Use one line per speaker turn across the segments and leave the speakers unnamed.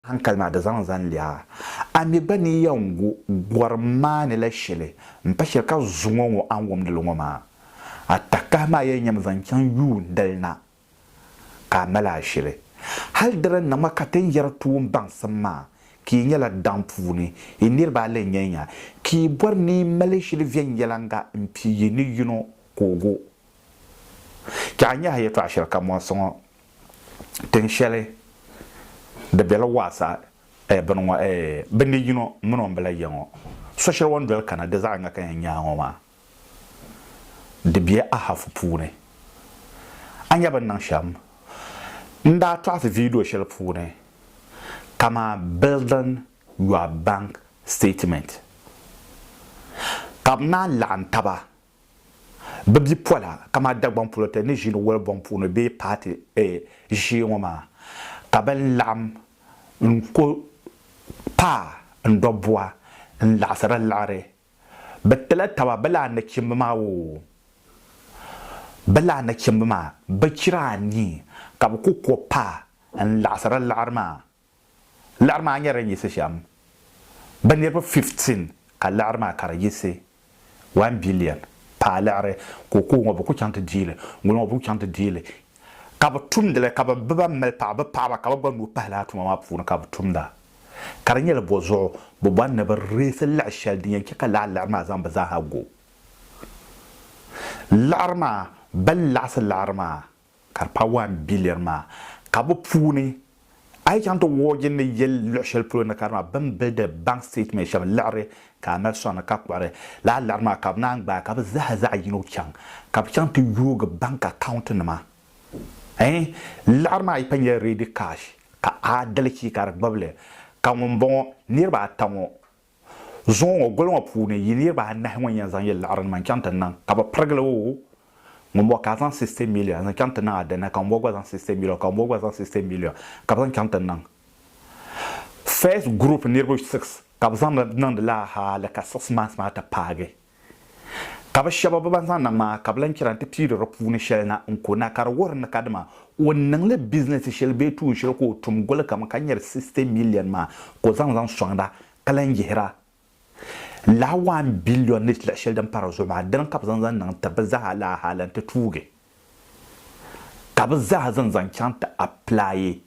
Hankali maa di zaŋ zani lɛɣa. A mi gba ni yɛn gu gɔrim maa ni la shɛli m-pa shɛli ka zuŋɔ ŋɔ a ni wumdi li ŋɔ maa, a takahi maa yɛn nyami zaŋ chaŋ yuun dali na ka a mali a shili. Hali di ni niŋ ma ka ti ni yɛri tuun baŋsim maa ka yi nyɛla daŋ puuni, yi niriba a lee nyɛlinya ka yi bɔri ni yi mali shili viɛnyɛliŋga m-pi yi ni yino ka o gu. Chɛ a nyɛha yɛtɔɣ shɛli ka mɔɣisi ŋɔ. tin shɛli di bela waasa eh bini ŋɔ eh bɛ ni yino min o ni bela ya ŋɔ so shɛli o ni doli kana di zaɣ yiŋga ka yɛn nyaai ŋɔ maa di be a hafu puuni. A nya bɛ ni niŋ shɛm? N daa tɔɣisi viidiyo shɛli puuni kaman Building Your Bank Statement ka bɛ naan laɣim taba Bɛ bipola kamani Dagbaŋ polote ni ʒini Wulibɔŋ puuni bee paati ʒee ŋɔ maa ka bɛ laɣim n-ku paai n-dɔb bua n-laɣisiri liɣiri. Bɛ tila taba bɛ laa nachimba maa oo, bɛ laa nachimba maa bɛ chira anii ka bɛ ku ku paai n-laɣisiri liɣiri maa. Laɣiri maa nyɛla din yiɣisi shɛm bɛ niriba 15 ka laɣiri maa ka di yiɣisi one billion paai laɣiri ka o kooŋɔ bɛ ku chaŋ ti deei li ŋuliŋɔ bɛ ku chaŋ ti deei li ka bɛ tumdi li ka bɛ ban mali paɣa bɛ paɣaba ka bɛ gba nuu pahi lala tuma maa puuni ka bɛ tumda ka di nyɛla bɔ zuɣu bɛ bɔri ni bɛ reesi laɣi shɛli din yɛn che ka lala laɣiri maa zaŋ bɛ zaa ha go laɣiri maa bɛ ni laɣisi laɣiri maa ka di paai one billion maa ka bi puuni a yi chaŋ ti wɔɔgi ni yɛli luɣi shɛli polo ni ka di maa bini be di bank statement shɛm liɣiri ka a mali sɔŋni ka kpuɣiri lala liɣiri maa ka bi naan gbaai ka bi zaa zaɣi yino chaŋ ka bi chaŋ ti yoogi bank account nima ɛɛn liɣiri maa yi pa nyɛla ready cash ka adalichi ka di gbubili ka ŋun bɔŋɔ niriba ata ŋɔ Zuŋɔ ŋɔ goli ŋɔ puuni yi niriba anahi ŋɔ n-yɛn zaŋ yi liɣirinima n-chaŋ ti niŋ, ka bɛ pirigil o, ŋumbɔŋɔ ka a zaŋ sixty million n-zaŋ chaŋ ti niŋ Adana, ka ŋumbɔŋɔ gba zaŋ sixty million, ka ŋumbɔŋɔ gba zaŋ sixty million ka bɛ zaŋ chaŋ ti niŋ. First group niriba six ka bɛ zaŋ niŋdi lala hali ka six months maa ti paagi. Ka bɛ shɛba bɛ ban zaŋ naŋ maa ka bɛ lan chɛra nti piiri di puuni shɛli na n-ku na ka di wuhiri ni kadama o niŋ li bizinɛsi shɛli bee tuun shɛli ka o tum goli kam ka nyari sixty miliɛn maa ka o zaŋ zaŋ sɔŋda ka lan yihira lala waan biliɔn ni lahi shɛli din pa di zuɣu maa. Dina ka bɛ zaŋ zaŋ niŋ ti bɛ zaa lala hali nti tuugi ka bɛ zaa zaŋ zaŋ chaŋ ti apilaayi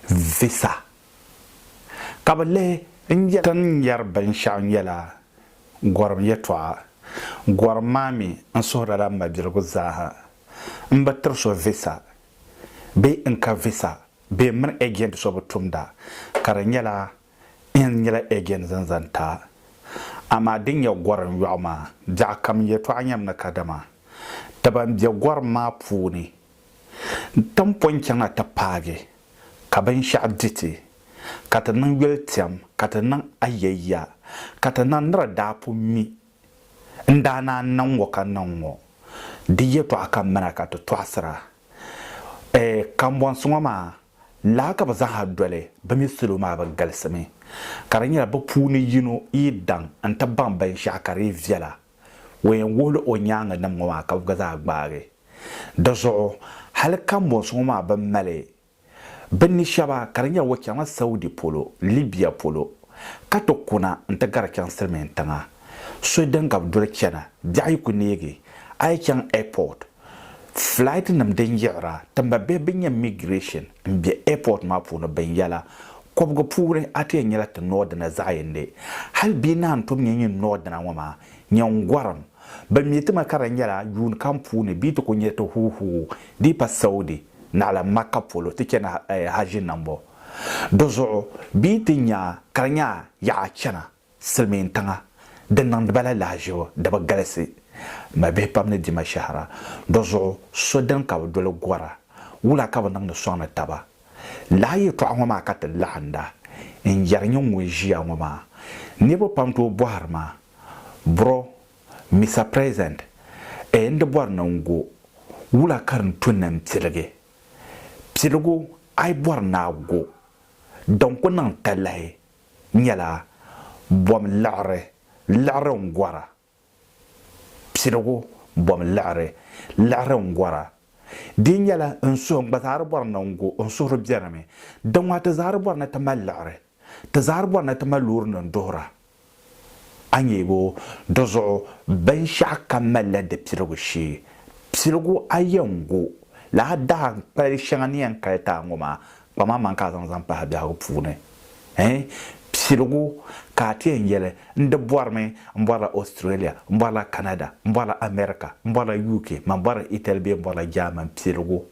visa ka bɛ lihi n yɛli ti ni yɛri binshɛɣu nyɛla gɔrim yɛtɔɣa gɔrim maa mi n suhiri lala m mabiligu zaaha m bi tiri so visa bee n ka visa bee m mini agent so bi tumda ka di nyɛla n nyɛla agent zaŋ zani ta amaa din nyɛ gɔrim yɔɣu maa biɛɣukam yɛtɔɣa nyɛmi ni kadama ti ban be gɔrim maa puuni N tin po n-chaŋ a ti paagi ka binshɛɣu di ti, ka ti niŋ yoli tɛm ka ti niŋ a ya ya, ka ti naŋ nira daa pun mi n daa naan niŋ ŋɔ ka niŋ ŋɔ. Di yɛtɔɣa ka mali a ka ti tɔɣisira. Ɛ! Kambɔnsi ŋɔ maa laa ka bɛ zaaha doli, bɛ mi salo maa bɛ galisimi, ka di nyɛla bɛ puuni yino yi daŋ n-ti baŋ binshɛɣu ka di yi viɛla. O yɛn wuhila o nyaaŋanim ŋɔ maa ka bɛ gba zaa gbaagi. Di zuɣu hali kambɔnsi ŋɔ maa bɛn mali bɛ ni shɛba ka di nyɛ o chaŋla Saudi polo, Libya polo ka ti kuna nti gari chaŋ Silimiintiŋa. So din ka bɛ doli chana biɛɣu yi ku neegi a yi chaŋ airport Flight nim din yiɣira ti mba bihi bi nyɛ migration n bɛ airport maa puuni bin yɛla kɔbigu puuni a ti yɛn nyɛla ti northerner zaɣiyindi hali bia naan tom nyɛ nyin northerner ŋɔ maa nyɛ n gɔrim bi mi ti ma ka di nyɛla yuun kam puuni bia ti ku nyɛ ti huu huu dii pa Saudi naɣila Makka polo ti chana Hajji nambɔ di zuɣu bia ti nya ka di nya yaɣa chana Silimiintiŋa di niŋdi ba la lahiʒibu di bi galisi. Mabihi pam ni di ma shɛhira. Di zuɣu so dini ka bɛ doli gɔra? Wula ka bɛ niŋdi sɔŋni taba? Lala yɛltɔɣa ŋɔ maa ka ti laɣinda n-yɛri nyini ŋun ʒiya ŋɔ maa. Niriba pam tooi bɔhiri ma, Bro, Mister President, ee n di bɔri ni n go, wula ka di ni tu ni n piligi? Piligu a yi bɔri ni a go, din ku niŋ talahi nyɛla bom liɣiri liɣiri n gɔra, piligu bom liɣiri liɣiri n gɔra. Di nyɛla n suhi n gba zaa di bɔri ni n go, n suhuri beni mi. Di ŋɔ ti zaa di bɔri ni ti mali liɣiri, ti zaa di bɔri ni ti mali loori nim duhira A nyebo dizuɣu binshɛɣu kam malila di piligu shee. Piligu a yɛn gu la a daa n kpali shɛŋa ni yɛn kali ti a ŋɔ maa kpam a maŋ ka a zaŋ zaŋ pahi biɛhigu puuni ɛɛn piligu ka a ti yɛn yɛli n di bɔrimi m bɔrila Australia m bɔrila Canada m bɔrila America m bɔrila UK man bɔrila Italy bee m bɔrila German piligu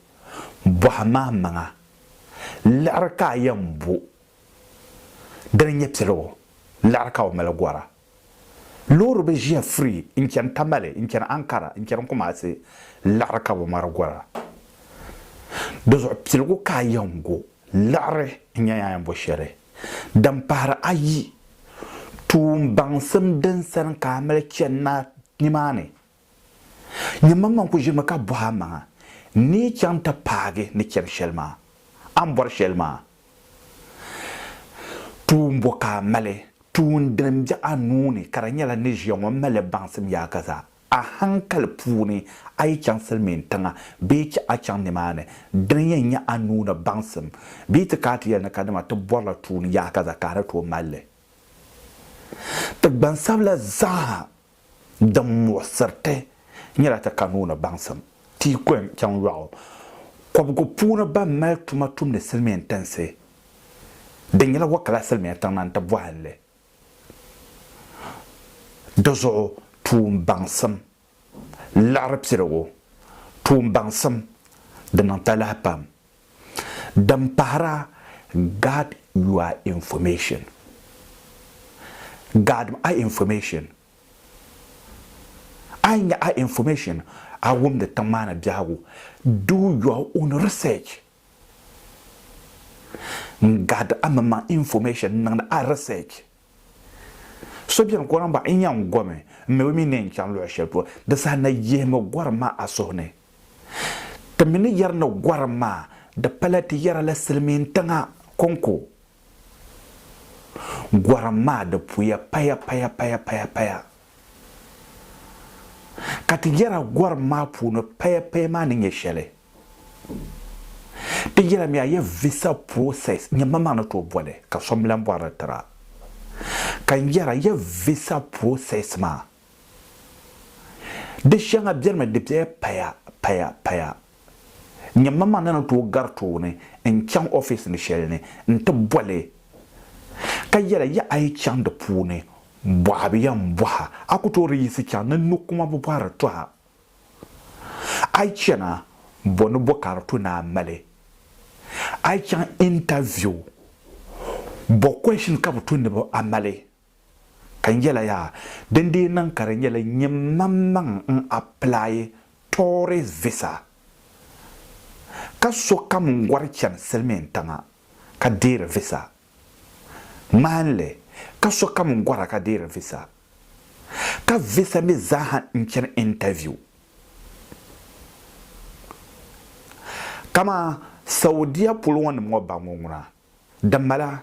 bɔhi ma maŋa liɣiri ka a yɛn bo Dini nyɛ piligu liɣiri ka o mali gɔra. Loori bi ʒiya free n chani Tamale, n chani Ankara, n chani Kumasi liɣiri ka bi mari gɔra. Di zuɣu piligu ka a yɛn go liɣiri n nyɛ a yɛn bo shɛli. Din pahiri ayi, tuun baŋsim din sani ka a mali chani na nimaani Nyɛmmaŋmaŋ ku ʒirimi ka bɔh a maŋa, N ni yi chaŋ ti paagi ni chɛbu shɛli maa? A ni bɔri shɛli maa? Tuun bɔ ka a mali? Tuun din m-be a nuu ni ka di nyɛla ni ʒiya ŋɔ mali li baŋsim yaaka zaa. A haŋkali puuni a yi chaŋ silimiin tiŋa bee chɛ a chaŋ nimaani, dini yɛn nyɛ a nuu ni baŋsim? Bɛ yi ti ka a ti yɛli ni ka dama ti bɔrila tuun yaaka zaa ka a ni tooi mali li? Ti gbansabila zaa din muɣisiriti nyɛla ti ka nuu ni baŋsim ti yi kɔhim chaŋ yɔɣu kɔbigu puuni ban mali tuma tumdi silimiin tinsi din nyɛla Wakala silimiin tiŋna n-ti bɔhili di zuɣu tuun baŋsim liɣiri piligu tuun baŋsim di niŋ talahi pam. Din pahira, guard your information, Gaadimi a information. A yi nya a information, a wumdi tiŋ maa ni biɛhigu, do your own research. N gaadi a mini maŋ information, n niŋdi a research. So beni ka o lan bɔhi, N yɛn gomi n mi o mi ni yɛn chaŋ luɣ shɛli polo? Di saha na yihimi gɔrim maa a suhu ni. Ti mi ni yɛri ni gɔrim maa di pala ti yɛra la silimiintiŋa kɔŋko. Gɔrim maa di puya paya paya paya paya paya. Ka ti yɛra gɔrim maa puuni paya paya maa ni nyɛ shɛli. Ti yɛlimi a ya visa process nyɛ ma maa ni tooi boli ka so m-lahi bɔri li tiri a. Ka n yɛra ya visa process maa di shɛŋa benimi di bela paya paya paya. Nyɛ ma maa ni ni tooi gari tooni n-chaŋ office ni shɛli ni n-ti boli ka yɛra ya a yi chaŋ di puuni bɔhibu ya m-bɔhi a, a ku tooi di yiɣisi chaŋ ni n ni kuma bi bɔhiri tɔha. A yi chana, bɔ ni bɔ ka di to ni a mali? A yi chaŋ interview, bɔ question ka bi to ni a mali? Ka n yɛla yaa, din dii niŋ ka di nyɛla nyɛ manmaŋ n apply tourist visa, ka sokam n gɔri chani silimiintiŋa ka deeri visa. Ŋmahinli, ka sokam gɔra ka deeri visa, ka visa mi zaaha n-chani interview. Kaman Saudia polo ŋɔ nim ŋɔ ba ŋɔ ŋuna, di mala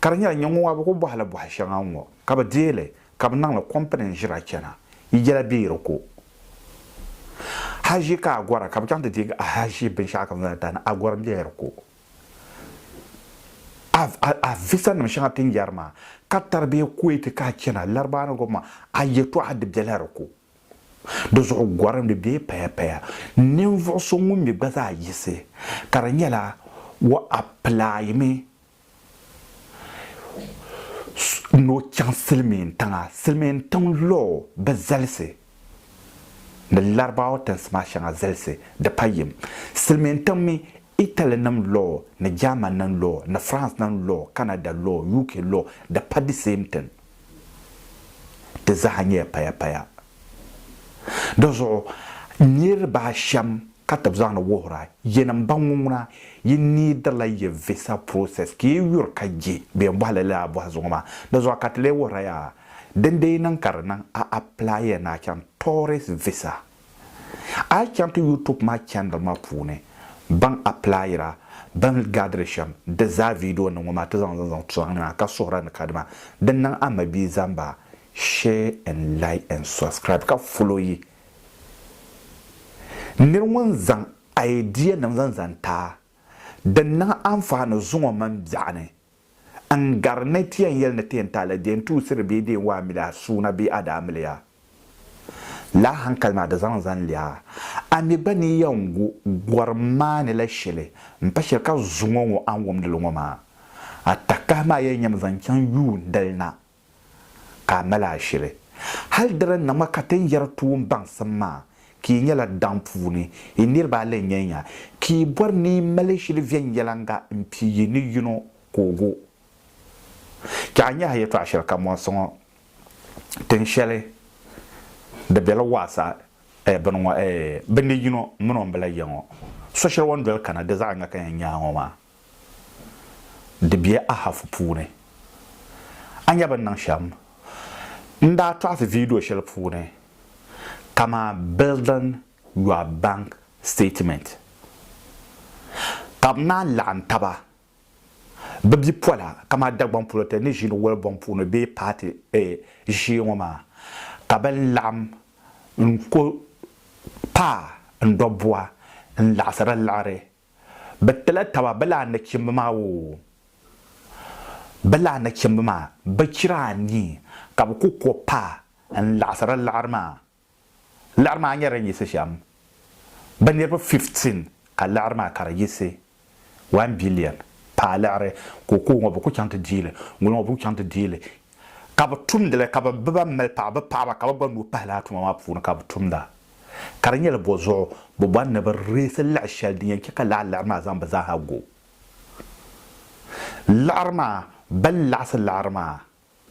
ka di nyɛla nyingɔ maa bi ku bɔhila bɔhi shɛŋa ŋɔ ka bi deei li ka bi niŋli company n-ʒira chana, yi yɛla bɛ yi di ku. Haʒi ka a gɔra ka bi chaŋ ti deegi a haʒi binshɛɣu ka bi zaŋ ti ti a ni a gɔri n-bɛ yi di ku. a visa nim shɛŋa ti ni yɛri maa ka taribiya Kuwait ka a chana Laribaa ni gɔbima a yɛtɔɣa di bela di ko. Di zuɣu gɔrim di bee paya paya ninvuɣu so ŋun mi gba zaa yiɣisi ka di nyɛla o apply mi ni o chaŋ silimiin tiŋa silimiin tiŋ law bi zalisi ni Larabawa tinsi maa shɛŋa zalisi di pa yim silimiin tiŋ mi Italy nim law ni German nim law ni France nim law Canada law UK law di pa the same thing di zaha nyɛla paya paya di zuɣu niriba ashem ka ti zaŋdi wuhira yinim ba ŋuŋuna yi needirila yi visa process ka yi yuri ka je bɛn bɔhi li lala bɔhi zuŋɔ maa di zuɣu ka ti lee wuhira yaa dindee niŋ ka di niŋ a apply ya ni a chaŋ tourist visa A yi chaŋ ti YouTube maa channel maa puuni, baŋ applyira bɛn gaadiri shɛm di zaa video ni ŋɔ maa ti zaŋ li zaŋ sɔŋ ŋɔ ka suhira ni kadama di niŋ a mabia zaŋ ba share and like and subscribe ka follow yi nir ŋun zaŋ idea nim zaŋ zaŋ ti a din niŋ anfaani zuŋɔ mini biɛɣuni N gari ni ti yɛn yɛli ni ti yɛn taai la di yɛn tuusiri bee di yɛn waa mili a suuna bee a daa mili ya la a hankali maa di zaŋ zani li a, a mi gba ni yɛn gu gɔrim maa ni la shɛli m-pa shɛli ka zuŋɔ ŋɔ a ni wumdi li ŋɔ maa. A takahi maa yɛn nyami zaŋ chaŋ yuun dali na ka a mali a shili. Hal di din na ŋɔ ka ti ni yɛri toon baŋsim maa, ka yi nyɛla daŋ puuni, yi niriba a lee nyɛ nya, ka yi bɔri ni yi mali shili viɛnyɛliŋga m-pii yi ni yino ka o gu. Chɛ a nya a yɛtɔɣ shɛli ka mɔɣisi ŋɔ, tin shɛli di be li waɣisa ɛɛ bini ŋɔ ɛɛ bɛ ni yino min o ni bi lahi yɛ ŋɔ. So shɛli o ni doli kana di zaɣ yiŋga ka yɛn nya a ŋɔ maa. di be a hafu puuni. A nya bini niŋ shɛm? N daa tɔɣisi viidiyo shɛli puuni kaman Building Your Bank Statement. Ka bɛ naan laɣim taba bɛ bipola kaman Dagbaŋ Poloten ni ʒiini woli bɔŋ puuni bee paati ʒee ŋɔ maa ka bɛ laɣim n-ku paai n dɔbua n-laɣisiri liɣiri Bɛ tila taba bɛ laa nachimba maa oo, bɛ laa nachimba maa bɛ chira anii ka bɛ ku ko paa n-laɣisiri liɣiri maa. Liɣiri maa nyɛla din yiɣisi shɛm bɛ niriba 15 ka liɣiri maa ka di yiɣisi 1 billion paa liɣiri ka o ku ŋɔ bɛ ku chaŋ ti dii li, ŋun ŋɔ bɛ ku chaŋ ti dii li ka bɛ tumdi li ka ban bi ba mali paɣa bɛ paɣaba ka bɛ gba nuu pahi lala tuma maa puuni ka bɛ tumda. Ka di nyɛla bɔzuɣu bɛ bɔri ni bɛ reesi liɣi shɛli din yɛn chɛ ka lala liɣiri maa zaŋ bɛ zaaha go. Liɣiri maa, bɛ ni laɣisi liɣiri maa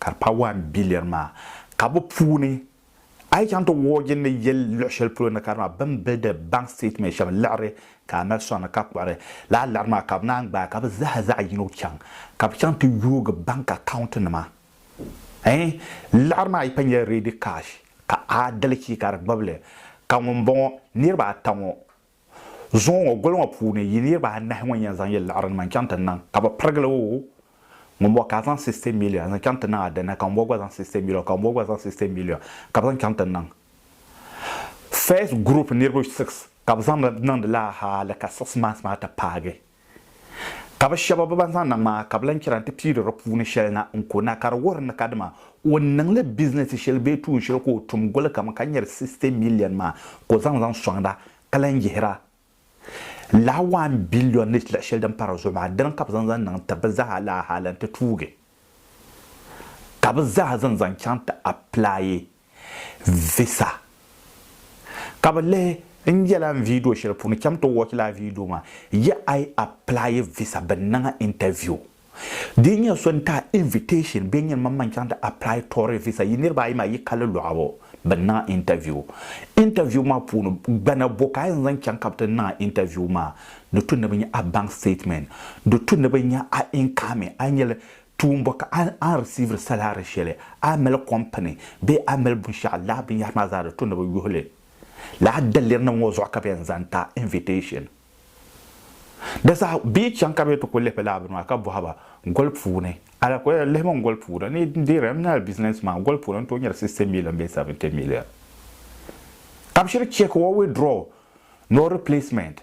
ka di paai one billion maa ka bɛ puuni A yi chaŋ ti wuhi o jinli yel luɣ shɛli polo ni ka di maa bɛn be di bank statement shɛm liɣiri ka a mali sɔŋ ni ka kpuɣiri lala liɣiri maa ka bɛ naan gbaai ka bɛ zaa zaɣ yino chaŋ ka bɛ chaŋ ti yoogi bank account nima ɛɛn liɣiri maa yi pa nyɛla ready cash ka a dalichi ka di gbibili ka ŋun bɔŋɔ niriba ata ŋɔ Zuŋɔ ŋɔ goli ŋɔ puuni yi niriba anahi ŋɔ n-yɛn zaŋ yi liɣirinima n-chaŋ ti niŋ, ka bɛ pirigil o, ŋumbɔŋɔ ka a zaŋ sixty million n-zaŋ chaŋ ti niŋ a dini, ka ŋumbɔŋɔ gba zaŋ sixty million, ka ŋumbɔŋɔ gba zaŋ sixty million ka bɛ zaŋ chaŋ ti niŋ. First group niriba six ka bɛ zaŋ niŋdi lala hali ka six months maa ti paagi. Ka bɛ shɛba bɛ ban zaŋ naŋ maa ka bɛ lan chɛra nti piiri di puuni shɛli na n-ku na, ka di wuhiri ni kadama o niŋ li bizinɛsi shɛli bee tuun shɛli ka o tum goli kam ka nyari sixty miliɛn maa ka o zaŋ zaŋ sɔŋd a ka lan yihira lala waan biliɔn ni lahi shɛli din pa di zuɣu maa. Dina ka bɛ zaŋ zaŋ niŋ ti bɛ zaa lala hal nti tuugi ka bɛ zaa zaŋ zaŋ chaŋ ti apilaai visa ka bi lihi n yɛla n video shɛli puuni cham ti watch laa video maa yi I apply visa bɛ niŋ a interview dii nyɛ so n ti a invitation bee nyini man man chaŋ ti apply tourist visa yi niriba ayi maa yi kali lɔɣu bɛ niŋ a interview interview maa puuni gbana bo ka yi zaŋ chaŋ ka bɛ ti niŋ a interview maa di tu ni bɛ nya a bank statement di tu ni bɛ nya a income a yi nyɛli Tuumba ka a a risiiviri salaari shɛli a mali kɔmpini bee a mali binshɛɣu laa binyɛhiri maa zaa di to ni bɛ yuhi li lala dalirinim ŋɔ zuɣu ka bɛ yɛn zaŋ ti a invitation di zaa bee chaŋ ka bɛ ti ku lihibu lala bini maa ka bɔhi ba goli puuni ala ku yɛn lihimi goli puuni ni n deeri n nyɛla business man goli puuni n tooi nyari sixty million bee seventy million ka bɛ shiri check or withdraw nor replacement.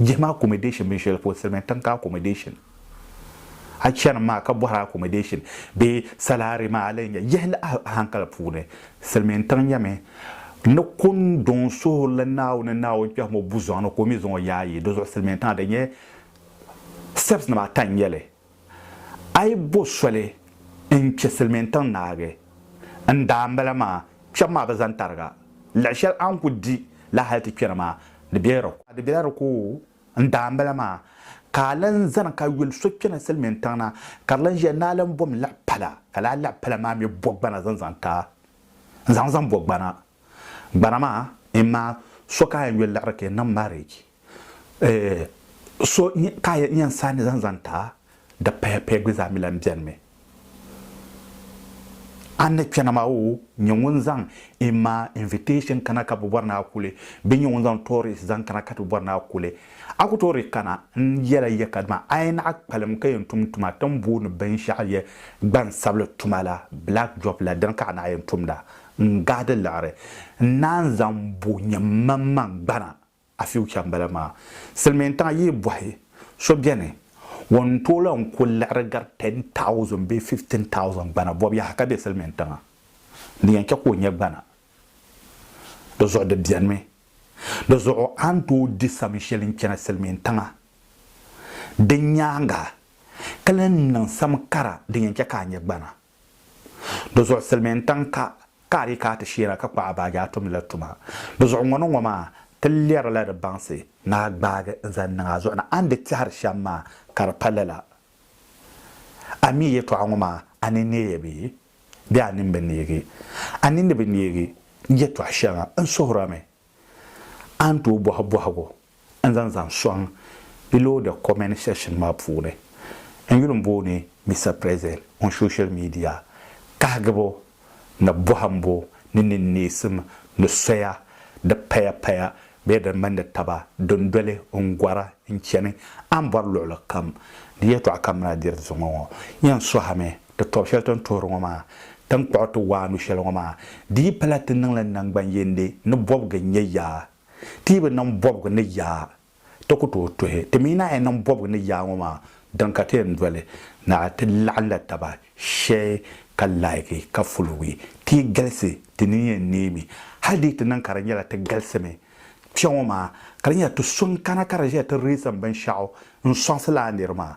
Jahima accommodation mini shɛli polo Silimiin tiŋ ka accommodation a chani maa ka bɔhiri accommodation bee salary maa a lee nya yihili a hankali puuni Silimiin tiŋ nyɛmi ni kunduŋ suhirili Naawuni ni Naawuni kpɛhimo buzɔŋ ni ka o mi zaŋ o yaayi di zuɣu Silimiin tiŋa di nyɛ steps nima ata n-nyɛli. A yi bo soli n-chɛ Silimiintiŋ naagi n daambala maa, kpɛbu maa bi zani tariga. Laɣ shɛli a ni ku di la hal ti kpɛna maa, di bela di ko. Di bela di ko n daambala maa, ka a lan zani ka yoli so kpɛna Silimiintiŋ na, ka di lan ʒiya ni a lan bom laɣ pala, ka lala laɣ pala maa mi bo gbana zaŋ zaŋ ti a. N zaŋ zaŋ bo gbana. Gbana maa, imaa so ka a yɛn yoli liɣiri ka yi niŋ marriage. Eeh so ka yi yɛn saani zaŋ zaŋ ti a, di paya paya gbi zaa mi lan beni mi. A ni kpɛna maa o nyɛ ŋun zaŋ in ma invitation kana ka bi bɔri ni a kuli bɛ nyɛ ŋun zaŋ tourist zaŋ kana ka ti bɔri ni a kuli a ku tooi di kana n yɛla ya ka dima a yi naɣi kpalim ka yɛn tum tuma ti ni booni binshɛɣu yɛ gbansabili tuma la black job la dini ka a naɣi yɛn tumda n gaadi liɣiri n naan zaŋ bo nyɛ m maŋmaŋ gbana A future n bala maa. Silimiintiŋa yi yi bɔhi so beni ŋun n tooi lan ku liɣiri gari ten thousand bee fifteen thousand gbana bɔbu yaha ka be silimiintiŋa n di yɛn chɛ ka o nya gbana di zuɣu di benimi. Di zuɣu a ni tooi di sami shɛli n chana silimiintiŋa di nyaaŋa ka lan niŋ sam kara din yɛn chɛ ka a nya gbana. Di zuɣu silimiintiŋ ka ka a di ka a ti sheena ka kpuɣi a baaji a tumdi la tuma. Di zuɣu ŋɔ ni ŋɔ maa ti lɛrila di baŋsi ni a gbaagi n-zaŋ niŋ a zuɣu ni a ni di tɛhiri shɛm maa ka di pa lala. A mi yɛtɔɣa ŋɔ maa a ni neei bee? Bee a nini bi neegi? A nini bi neegi yɛtɔɣ shɛŋa n suhiri a mi a ni tooi bɔhi bɔhigu n-zaŋ zaŋ sɔŋ di loodi comment section maa puuni. N yuli m-booni Mister President on social media kahigibu ni bɔhimbu ni ninneesim ni soya di paya paya bee din mindi taba din doli n gɔri n chani a ni bɔri luɣili kam ni yɛltɔɣa kam ni a diri di zuŋɔ ŋɔ. Yan sɔhimi Ti tɔbu shɛli ti ni tuhiri ŋɔ maa, ti ni kpuɣi ti waanu shɛli ŋɔ maa, di yi pala ti niŋ li naŋgban yindi ni bɔbigu n-nyɛ yaa. Ti yi bi niŋ bɔbigu ni yaa, ti ku tooi tuhi. Ti mi naai yi niŋ bɔbigu ni yaa ŋɔ maa, dini ka ti yɛn doli na ti laɣim la taba shee ka laiki ka fulugi. Ti yi galisi, ti nini yɛn neemi. Hali di yi ti niŋ ka di nyɛla ti galisimi kpe ŋɔ maa, ka di nyɛla ti so n-kana ka di ʒiya ti riisim binshɛɣu n-sɔŋsi lala niri maa,